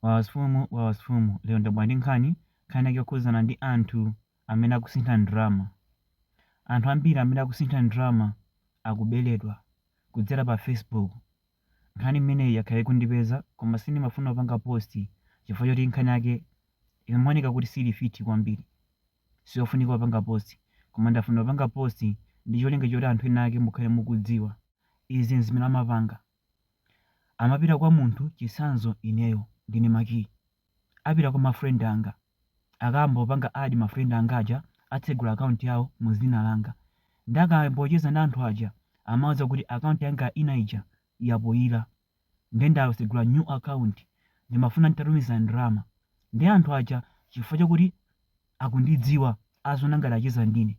Wawa sfumu wawa sfumu lero ndabwera ndi nkhani, nkhani yake yokhudzana ndi anthu amene akusintha ndalama. Anthu ambiri amene akusintha ndalama akuberedwa kudzera pa Facebook. Nkhani imeneyi yakhala ikundipeza koma sindimafuna kupanga post chifukwa choti nkhani yake ikumaoneka kuti sili fit kwambiri. Siyofunika kupanga post koma ndafuna kupanga post ndi cholinga choti anthu ena ake mukhale mukudziwa. Izi n'zimene amapanga. Amapita kwa munthu chitsanzo ineyo ndine Maki. Apita kwa ma friend anga. Akambopanga add ma friend anga aja atsegula account yawo mu dzina langa. Nde akambocheza ndi anthu aja amauza kuti account yanga ina ija yapoira. Nde ndasegula new account. Ndimafuna nditatumiza ndalama. Nde anthu aja chifukwa chakuti akundidziwa aziona ngati acheza ndine.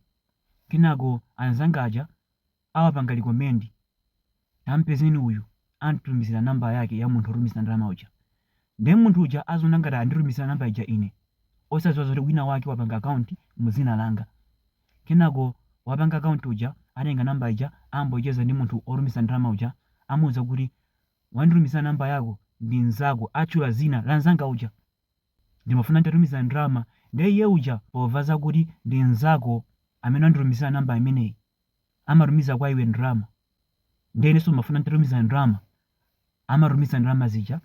Kenako anzanga aja. awapanga recommend tampezeni uyu anditumizira number yake ya munthu otumiza ndalama uja nde munthu uja aziona ngati anditumizira namba ija ine osaziwa zoti wina wake wapanga account mu dzina langa kenako wapanga account uja atenga namba ija ambocheza ndi munthu otumiza ndalama uja amuuza kuti wanditumizira namba yako ndi mnzako atchula dzina la mnzanga uja ndimafuna nditatumiza ndalama ndiye iye uja pomva zakuti ndi mnzako amene wanditumizira namba imeneyi amatumiza kwa iwe ndalama ndiye inenso ndimafuna nditatumiza ndalama amatumiza ndalama zija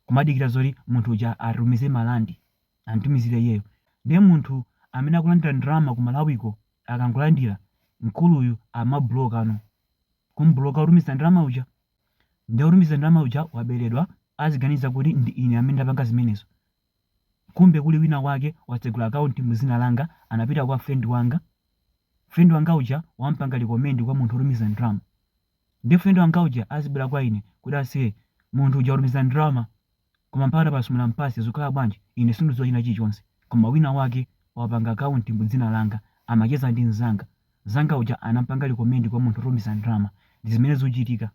kumadikira zoti munthu uja atumize marandi anditumizire iyeyo ndiye munthu amene akulandira ndalama ku malawiko akangolandira mkuluyu amabwerano kumbuloka otumiza ndalama uja ndiye otumiza ndalama uja waberedwa aziganiza kuti ndi ine amene ndapanga zimenezo kumbe kuli wina wake watsegula account mu dzina langa anapita kwa friend wanga friend wanga uja wampanga recommend kwa munthu otumiza ndalama nde friend wanga uja azibwera kwa ine kuti aise munthu uja watumiza ndalama koma mpaka tapasumira mpase zikhala bwanji ine sindidziwa china chilichonse koma wina wake wapanga account mu dzina langa amacheza ndi mzanga mzanga uja anampanga recommend kwa munthu otumiza ndalama ndi zimene zikuchitika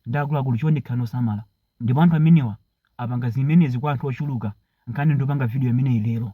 nde akuluakulu chonde khalani osamala ndipo anthu amenewa apanga zimenezi kwa anthu ochuluka nkhani nde ndapanga video imeneyi lero